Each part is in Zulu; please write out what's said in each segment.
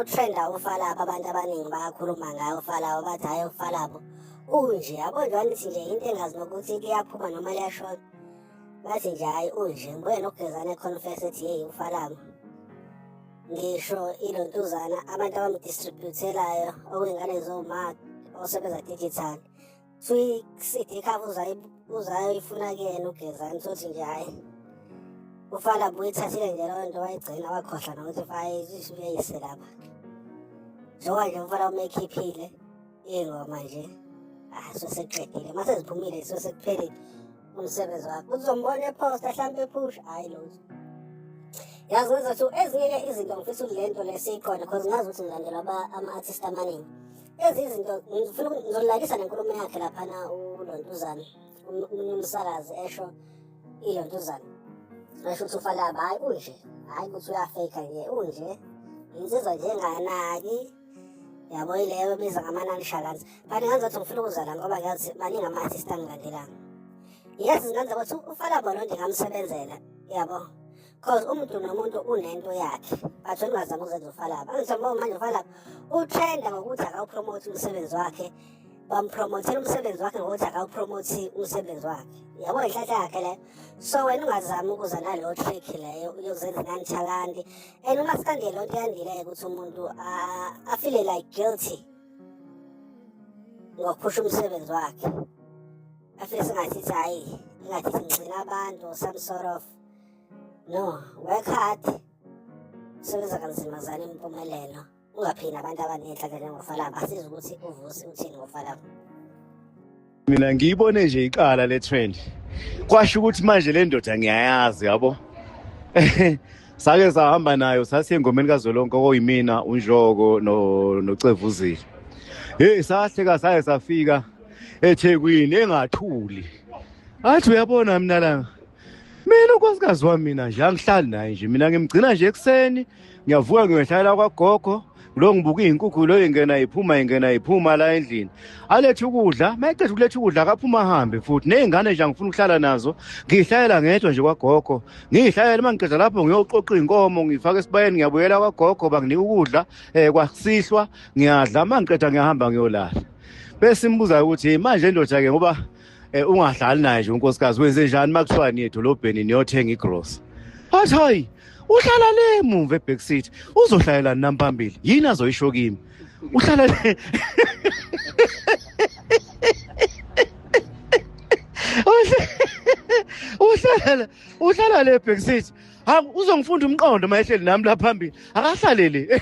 uthenda ufalapha abantu abaningi bayakhuluma ngaye ufalabo bathi hhayi ufalabo unje yabo nje wanithi nje into engazi nokuthi liyaphuma noma liyashona bathi nje hhayi unje ngibuye nokugezana econfess ethi yeyi ufalabo ngisho ilontuzana abantu abamdistributelayo okuyingane zoma osebenza digital suyi-cd cover uzayo ifuna kuyena ugezani sothi nje hhayi ufana buyithathile nje leyo nto wayigcina wakhohlwa nokuthi fayisho uyayise lapha njengoba nje umfana umeyikhiphile iy'ngoma nje hayi ah, soseqedile uma seziphumile sosekuphelile umsebenzi wakho uzombona ephosta hlampe ephusha hayi lutho yazi ngenza ukuthi ezinye-ke izinto ngifisa ukuthi le nto le siyiqonde because ngazi ukuthi ngilandela ama-artist amaningi ezi izinto ngifuna ngizolalisa nenkulumo yakhe laphana ulontuzana omunye umsakazi esho ilontuzana esho ukuthi ufalaba hhayi unje hhayi ukuthi uyafeyikha nje unje insizwa nje enganaki yabo ileyo ebiza ngama-nine shakans but nganzathi ngifuna ukuzala ngoba ngiyazi maningi ama-artist angilandelanga yes ngenza ukuthi ufalabo lo ndingamsebenzela yabo cause umuntu nomuntu unento yakhe but ungazama ukuzenza ufalaba angisobo manje ufalaba utrenda ngokuthi akawupromote umsebenzi wakhe bampromothela umsebenzi wakhe ngokuthi akawupromothi umsebenzi wakhe yabo inhlanhla yakhe leyo so wena ungazami ukuza naleyo trick leyo yokuzenza nanithalandi and uma sikande loo nto yandile-ke ukuthi umuntu afile like guilty ngokuphusha umsebenzi wakhe afile singathi ithi hhayi ingathi singcina abantu some sort of no work hard sebenza kanzima zana impumelelo ungaphini abantu abanenhlanhla njengofalaba asizi ukuthi uvusi uthini ngofalaba mina ngiyibone nje iqala le trend kwasho ukuthi manje le ndoda ngiyayazi yabo sake sahamba nayo sasiye engomeni kazolonke okuyimina unjoko nocevuzile heyi sahleka saye safika ethekwini engathuli athi uyabona mina langa mina unkosikazi wami mina nje angihlali naye nje mina ngimgcina nje ekuseni ngiyavuka ngiyohlalela kwagogo lo ngibuka izinkukhu lo ingena iphuma ingena iphuma la endlini alethe ukudla mayeqeda ukuletha ukudla akaphuma ahambe futhi nezingane nje angifuna ukuhlala nazo ngihlalela ngedwa nje kwagogo ngihlalela uma ngiqeda lapho ngiyoqoqa izinkomo ngifaka esibayeni ngiyabuyela kwagogo banginika ukudla eh kwasihlwa ngiyadla uma ngiqeda ngiyahamba ngiyolala bese imbuza ukuthi manje indoda ke ngoba eh ungadlali naye nje unkosikazi wenze njani makuthiwa niye edolobheni niyothenga igross wathi hayi uhlala le mumva eback seat uzohlalela nami phambili yini azoyisho kimi uhlala le uhlala uhlala le back seat ha uzongifunda umqondo mayehleli nami la phambili akahlalele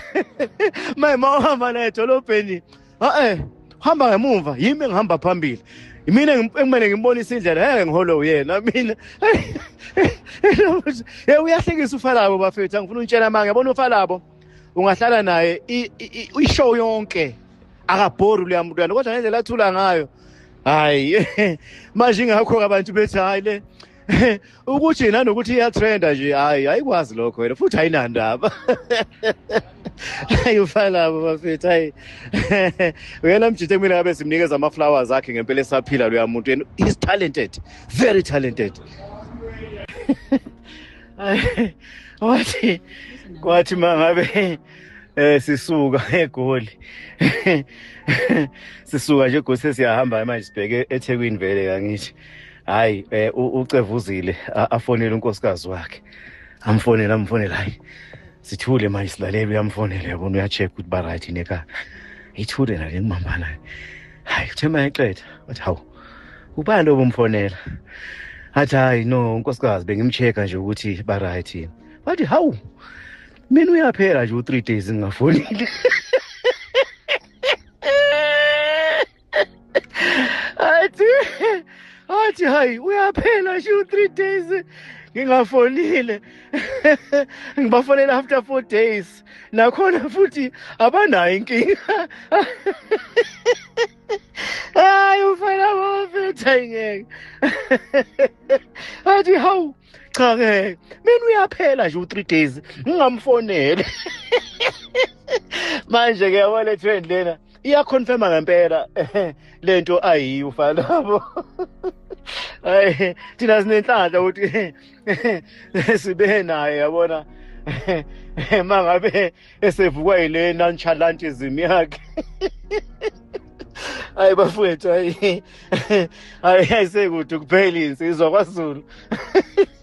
maye mawuhamba naye edolobheni a-e hamba ngemumva yimi engihamba phambili mina ekumele ngimbonise indlela ngeke ngihole uyena mina ye uyahlekisa ufalabo bafethu angifuna untshela manga yabona ufalabo ungahlala naye ishow yonke akabhori leya mntwana kodwa ngendlela athula ngayo hayi manje ingakho-ke abantu bethi hhayi le ukuthi nanokuthi iyatrenda nje hayi ayikwazi lokho wena futhi ayinandaba hayi ufanabo bafethu hayi uyena mjithe kumina ngabe simnikeza ama-flowers akhe ngempela esaphila loya muntu yena he's talented very talented wathi kwathi ma ngabe eh sisuka egoli sisuka nje gose siyahamba manje sibheke eThekwini vele kangithi hayi eh, ucevuzile afonele unkosikazi wakhe amfonele amfonele hayi sithule manje silalele uyamfonela yabona uyacheck ukuthi baright neka ithule nale ngimambana hayi kuthe mayeqeda wathi hawu ubani obumfonela athi hayi no unkosikazi bengimcheka nje ukuthi baright yini wathi hawu mina uyaphela nje u-three days ngingafonile athi athi hayi uyaphela shu three days ngingafonile ngibafonela after four days nakhona futhi abanayo inkinga hayi ufana bafetha ngeke athi hawu cha ke mina uyaphela nje u3 days ngingamfonele manje ke yabo le trend lena iya confirma ngempela lento ayi ufa labo ay thina sinenhlanhla ukuthi sibe naye yabona mangabe esevukwa yile nonchalantism yakhe hayi bafowethu hayi hayi ayisekude kuphela insizwa kwazulu